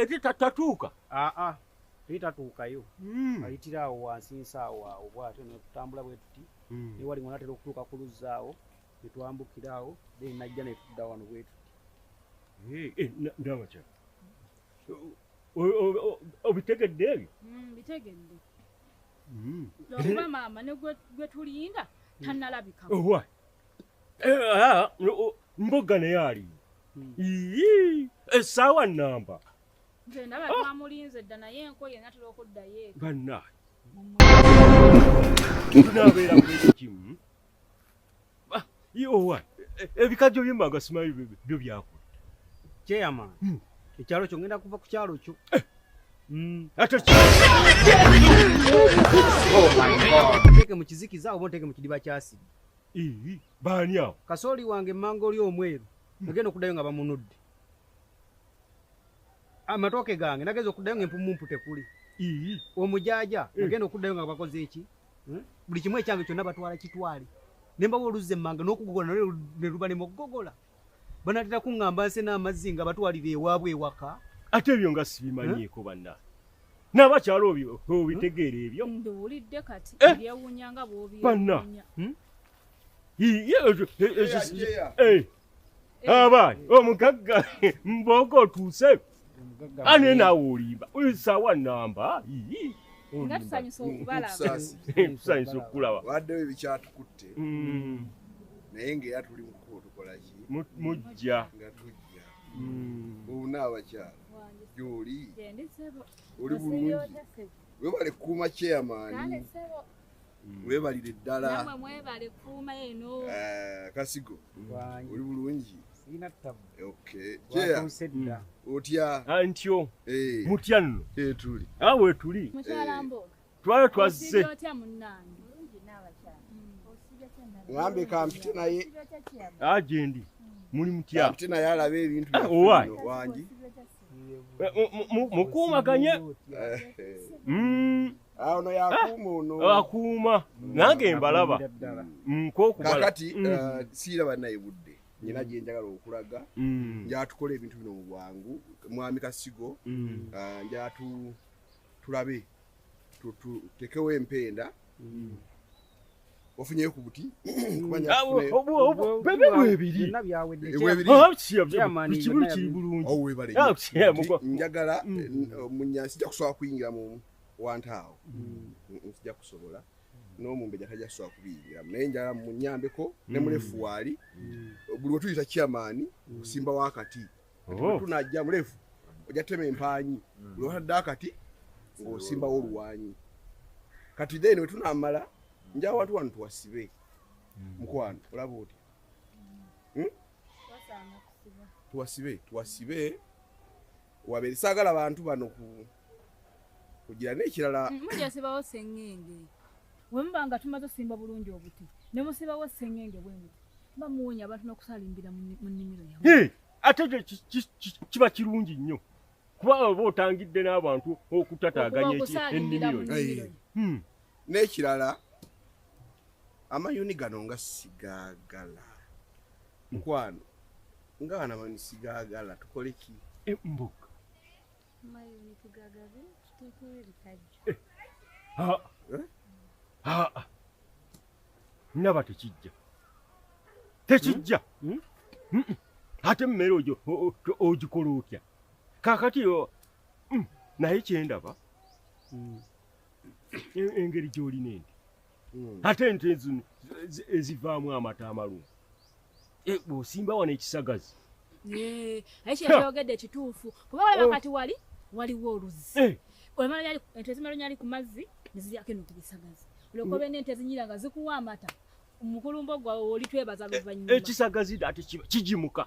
Ekita tatuuka. Ah ah. Peter tuukayo. Mm. Ayitira awo wansi nsaawo awo bwatyo ne tutambula bwe tuti. Mm. Ne wali ng'onatera okutuuka ku luzzaawo ne twambukira awo then najja ne tudda wano bwe tuti. Eh, eh ndaba kya. Obitegedde ebyo? Mm, bitegedde. Mm. Lwa maama ne gwe gwe tulinda tanalabika. Oh, why? Eh, ah, mbuga naye ali hmm. esaawa eh, namba ebikajjo byemanga simanyi byo byakula kyeyama hmm. ekyalo kyo ngenda kuva ku kyalo kyo eh. hmm. oh mu kizikiza oba oteeke mu kidiba kyasiri baani awo kasooli wange emmanga oli omweru nagenda okuddayo nga bamunudde amatooke ah, gange nageza okuddayo nga empumumpu tekuli omujaja eh. nagenda okuddayo nga bakoze eki hmm? buli kimu ekyange kyonna batwala kitwale nembawa oluzza emmanga n'okugogola naye ne luba nemukugogola banatera kuŋŋamba nse n'amazzi nga batwalira ewaabwe ewaka ate ebyo nga sibimanyiiko eh? banna n'abakyalo obitegeera hmm? ebyo nduwulidde kati eh? byewunya nga bwobanna hmm? abaani omugagga mbooga otuuse ane naawe olimba oyo saawa namba nga tusanyusa okubalabtusanyusa okukulaba waddewo ebikyatukutte mm. naye ngaera tuli mukubo tukolaki mujja nga tujja mm. obuna abakyala gyoli oli bulungi webale kuuma chairman Mm. webalire ddala eh, kasigo oli bulungi otya ah, ntyo eh. mutya nno eh, tuli ah, wetuli twala twazze ngambe kampite naye agendi ah, hmm. muli mutya kampite naye alaba ebintu owangi mukuumaganye ono yakuuma ono akuuma nange mbalaba nkokubakati mm, mm. uh, siiraba naye budde nyina mm. gyenjagala okulaga njatukola ebintu bino mu bwangu mwami kasigo uh, njatu tulabe tutekewo empenda wafunyeyo ku buti njagala munyansi nja kusobola kuyingira mu wantaawo nzija kusobola n'omumbejja tajja kusobola kubiyingiramu naye njala munyambeko ne mulefu waali buli wetuyita kyamaani osimba wakati Oh. tunajja mulefu ojja tema empaanyi buli watadde akati ng'osimbawo oluwanyi kati then wetunamala nja awantu wano tuwasibe mukwano olaba otya Hmm? tuwasibe tuwasibe wabere sagala bantu bano ku kugira n'ekirala mm, mujja sibawo sengenge bwe muba nga tumaze osimba bulungi obuti ne musibawo sengenge bwe muti muba muwonya abantu n'okusalimbira mu nnimiro yawe ate ekyo kiba kirungi nnyo kuba oba otangidde n'abantu okutataganya ennimiro hmm. n'ekirala amayuni gano nga sigagala mukwano nga bana bano sigagala tukole ki eh, mbuk naba tekijja tekijja hmm? Hmm? Hmm? ate mmere ojo ogikola otya kakati naye kyendaba engeri gyolina enti mm. ate ente zino ezivaamu amata amalungi eh, bwosimba wano ekisagazi aye kyekyogedde kituufu kuba walaba oh. kati wali waliwo oluzzi eh. ente ezimala nyali ku mazzi neziryako eno ku bisagazi olwokuba mm. ente ezinyira nga zikuwa amata mukulumbo gwawe oli twebaza luvannyuma ekisagazi ate kigimuka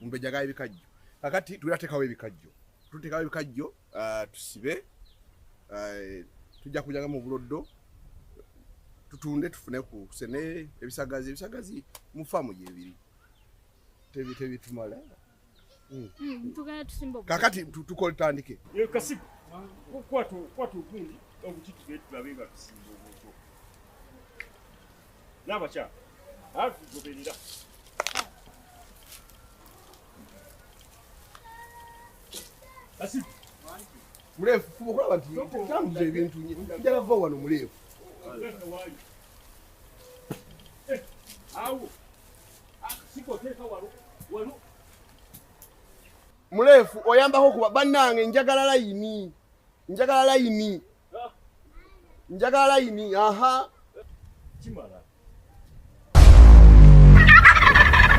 mumbejja gaye bikajjo kakati tuwera tekawo ebikajjo tutekawo ebikajjo uh, tusibe uh, tujja kujaga mu buloddo tutunde tufune ku sene ebisagazi ebisagazi mu famu gyebiri tebi tebi tumala mm. mm, tugana tusimba kakati tukole tandike yo kasi kwatu kwatu kundi okutitubetulabe nga tusimba obuto Nabakyala agoberera muleefu fuba okulaba nti tambuza ebintu njala va wano muleefu muleefu oyambako kuba bannange njagala layini njagala layini njagala layini aha kimala